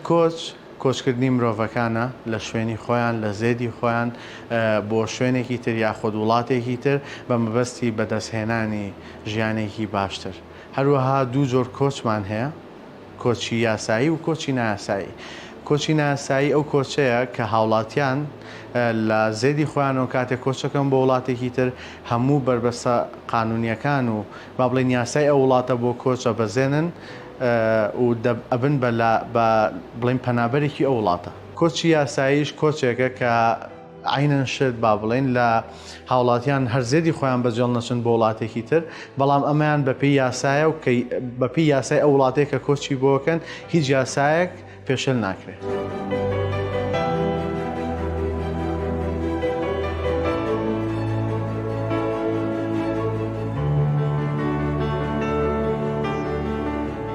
کۆچ، کۆچکردنی مرۆڤەکانە لە شوێنی خۆیان، لە زێدی خۆیان بۆ شوێنێکی تر یاخود وڵاتێکی تر بە مەبەستی بەدەستهێنانی ژیانێکی باشتر. هەروەها دوو جۆر کۆچمان هەیە، کۆچی یاسایی و کۆچی نایاسایی کۆچی نایاسایی ئەو کۆچەیە کە هاوڵاتیان لە زێدی خۆیانەوە کاتێک کۆچەکەن بۆ وڵاتێکی تر هەموو بەربەستە قانونیەکان و با بڵێن یاسای ئەو وڵاتە بۆ کۆچ ئەبەزێنن و ئەبن بە بڵێن پەنابەرێکی ئەو وڵاتە. کۆچی یاساییش کۆچێکە کە عەینەن شێت با بڵێین لە هاوڵاتیان هەر زێدی خۆیان بەجێڵ نەچن بۆ وڵاتێکی تر بەڵام ئەمەیان بەپی یاسایە و کەی بەپی یاسای ئەو وڵاتێک کە کۆچی بۆکەن هیچ یاسایەک پێشل ناکرێت.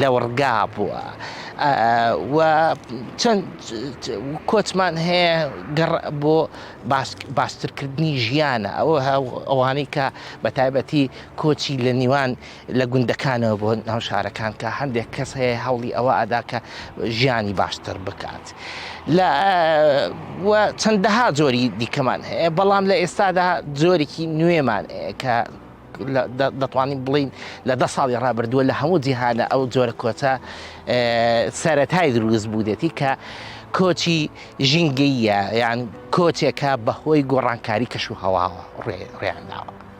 لەوڕگا بووە و چەند کۆچمان هەیە گەڕ بۆ باشترکردنی ژیانە ئەوە ئەوانەی کە بە تایبەتی کۆچی لە نیوان لە گوندەکانەوە بۆ ناو شارەکان کە هەندێک کەس هەیە هەوڵی ئەوە ئەدا کە ژیانی باشتر بکات لە چەندەها جۆری دیکەمان هەیە بەڵام لە ئێستادا جۆرێکی نوێمان کە دەتوانین بڵین لە دە ساڵی ڕابردووە لە هەموو جیهانە ئەو جۆرە کۆچە سەتای دروست بوودێتی کە کۆچی ژینگەیە یان کۆچێکە بەهۆی گۆڕانکاری کەش و هەواوە ڕێیانداوە.